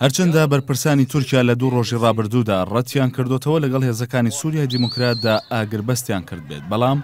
هەرچەندە بەرپرسانی تورکیا لە دوو ڕۆژی ڕابردوودا ڕەتیان کردۆتەوە لەگەڵ هێزەکانی سوریای دیموکراتدا ئاگربەستیان کردبێت بەڵام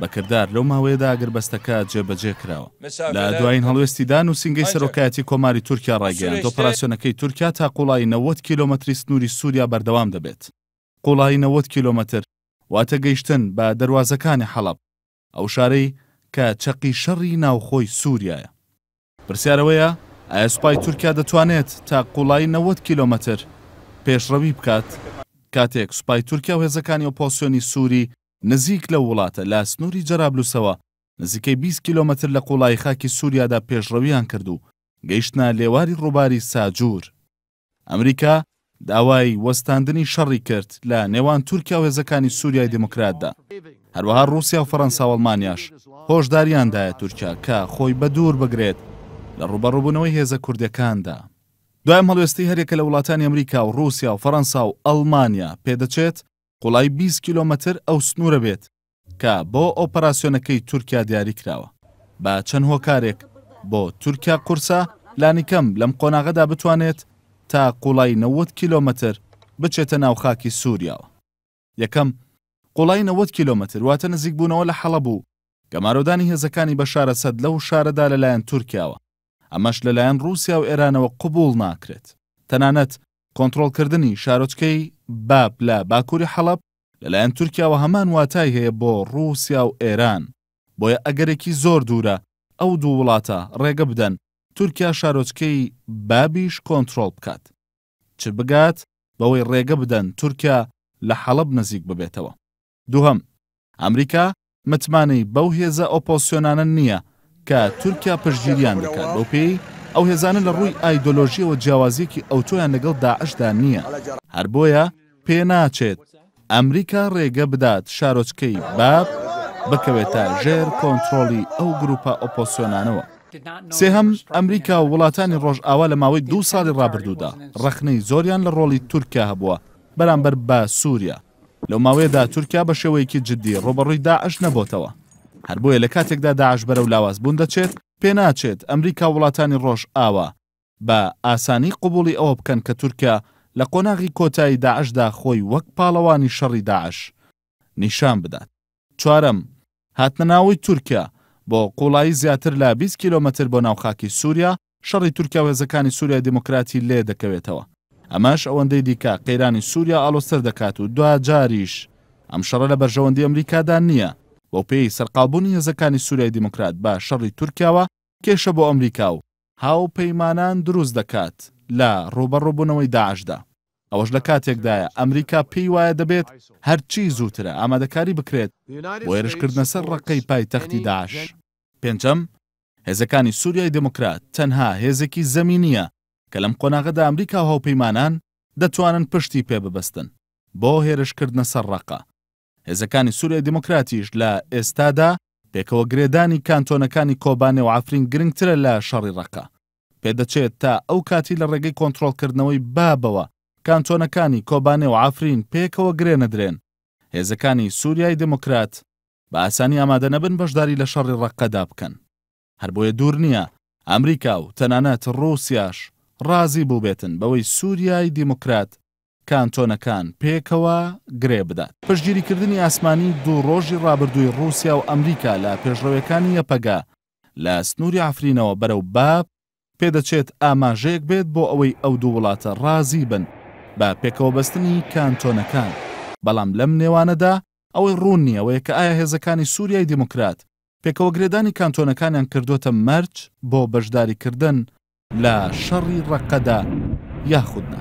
بە کردار لەو ماوەیەدا ئاگربەستەکە جێبەجێ کراوە لە دوایین هەڵوێستیدا نووسینگەی سەرۆکایەتی کۆماری تورکیا ڕایگەیاند ئۆپەراسیۆنەکەی تورکیا تا قوڵایی نەوەد کیلۆمەتری سنووری سوریا بەردەوام دەبێت قوڵایی نەوەد کیلۆمەتر واتە گەیشتن بە دەروازەکانی حەڵەب. ئەو شارەی کە چەقی شەڕی ناوخۆی سوریایە. پرسیار ئەوەیە ئایا سوپای تورکیا دەتوانێت تا قوڵایی نەوەد کیلۆمەتر پێشڕەوی بکات؟ کاتێک سوپای تورکیا و هێزەکانی ئۆپۆسیۆنی سوری نزیک لەو وڵاتە لە سنوری جەرابلوسەوە نزیکەی بیست کیلۆمەتر لە قوڵایی خاکی سوریادا پێشڕەویان کرد و گەیشتنە لێواری ڕوباری ساجور، ئەمریکا داوای وەستاندنی شەڕی کرد لە نێوان تورکیا و هێزەکانی سووریای دیموکراتدا. هەروەها ڕووسیا و فەرەنسا و ئەڵمانیاش هۆشدارییان دایە تورکیا کە خۆی بەدوور بگرێت لە ڕووبەڕووبوونەوەی هێزە کوردەکاندا. دوای ئەم هەڵوێستەی هەریەکە لە وڵاتانی ئەمریکا و ڕووسیا و فەرەنسا و ئەڵمانیا، پێدەچێت قوڵایی بیست کیلۆمەتر ئەو سنوورە بێت کە بۆ ئۆپەراسیۆنەکەی تورکیا دیاری کراوە. بە چەند هۆکارێک بۆ تورکیا قورسە لانیکەم لەم قۆناغەدا بتوانێت تا قوڵای نەوەد کیلۆمەتر بچێتە ناو خاکی سوریاوە. یەکەم، قوڵای نەوەد کیلۆمەتر واتە نزیکبوونەوە لە حەڵەب و گەمارۆدانی هێزەکانی بەشار ئەسەد لەو شارەدا لەلایەن تورکیاوە، ئەمەش لەلایەن ڕووسیا و ئێرانەوە قبووڵ ناکرێت. تەنانەت کۆنترۆڵکردنی شارۆچکەی باب لە باکووری حەڵەب لەلایەن تورکیاوە هەمان واتای هەیە بۆ ڕووسیا و ئێران، بۆیە ئەگەرێکی زۆر دوورە ئەو دوو وڵاتە ڕێگە بدەن تورکیا شارۆچکەی بابیش کۆنترۆڵ بکات، چ بگات بەوەی ڕێگە بدەن تورکیا لە حەڵەب نزیک ببێتەوە. دووهەم، ئەمریکا متمانەی بەو هێزە ئۆپۆزسیۆنانە نییە کە تورکیا پشتگیریان دەکات، بەوپێیەی ئەو هێزانە لە ڕووی ئایدۆلۆژییەوە جیاوازییەکی ئەوتۆیان لەگەڵ داعشدا نییە، هەر بۆیە پێناچێت ئەمریکا ڕێگە بدات شارۆچکەی باب بکەوێتە ژێر کۆنترۆڵی ئەو گرووپە ئۆپۆزسیۆنانەوە. سێهەم، ئەمریکا و وڵاتانی ڕۆژئاوا لە ماوەی دوو ساڵی ڕابردوودا ڕەخنەی زۆریان لە ڕۆڵی تورکیا هەبووە بەرامبەر بە سووریا، لەو ماوەیەدا تورکیا بە شێوەیەکی جددی ڕووبەڕووی داعش نەبۆتەوە. هەر بۆیە لە کاتێکدا داعش بەرەو لاوازبوون دەچێت، پێناچێت ئەمریکا و وڵاتانی ڕۆژئاوا بە ئاسانی قبووڵی ئەوە بکەن کە تورکیا لە قۆناغی کۆتایی داعشدا خۆی وەک پاڵەوانی شەڕی داعش نیشان بدات. چوارەم، هاتنە ناوەوەی تورکیا، بۆ قوڵایی زیاتر لە بیست کیلۆمەتر بۆ ناو خاکی سوریا، شەڕی تورکیا و هێزەکانی سوریای دیموکراتی لێ دەکەوێتەوە. ئەمەش ئەوەندەی دیکە قەیرانی سوریا ئاڵۆزتر دەکات و دواجاریش ئەم شەڕە لە بەرژەوەندی ئەمریکادا نییە، بەوپێیەی سەرقاڵبوونی هێزەکانی سوریای دیموکرات بە شەڕی تورکیاوە کێشە بۆ ئەمریکا و هاوپەیمانان دروست دەکات لە ڕووبەڕووبوونەوەی داعشدا. ئەوەش لە کاتێکدایە ئەمریکا پێی وایە دەبێت هەرچی زووترە ئامادەکاری بکرێت بۆ هێرشکردنە سەر ڕەققەی پایتەختی داعش. پێنجەم، هێزەکانی سوریای دێموکرات تەنها هێزێکی زەمینییە کە لەم قۆناغەدا ئەمریکا و هاوپەیمانان دەتوانن پشتی پێ ببەستن بۆ هێرشکردنە سەر ڕەققە. هێزەکانی سوریای دیموکراتیش لە ئێستادا پێکەوە گرێدانی کانتۆنەکانی کۆبانێ و عەفرین گرنگترە لە شەڕی ڕەقە. پێدەچێت تا ئەو کاتی لە ڕێگەی کۆنترۆڵکردنەوەی بابەوە کانتۆنەکانی کۆبانێ و عەفرین پێکەوە گرێ نەدرێن، هێزەکانی سوریای دیموکرات بە ئاسانی ئامادە نەبن بەشداری لە شەڕی ڕەقەدا بکەن. هەر بۆیە دوور نییە ئەمریکا و تەنانەت ڕووسیاش ڕازی بووبێتن بەوەی سووریای دیموکرات کانتۆنەکان پێکەوە گرێ بدات. پشتگیریکردنی ئاسمانی دوو ڕۆژی ڕابردووی ڕووسیا و ئەمریکا لە پێشڕەوێکانی یەپەگە لە سنووری عەفرینەوە بەرەو باب، پێدەچێت ئاماژەیەک بێت بۆ ئەوەی ئەو دوو وڵاتە ڕازی بن بە پێکەوەبەستنی کانتۆنەکان، بەڵام لەم نێوانەدا ئەوەی ڕوون نییە ئەوەیە کە ئایا هێزەکانی سووریای دیموکرات پێکەوەگرێدانی کانتۆنەکانیان کردووەتە مەرج بۆ بەشداریکردن لە شەڕی ڕەققەدا یاخود نا.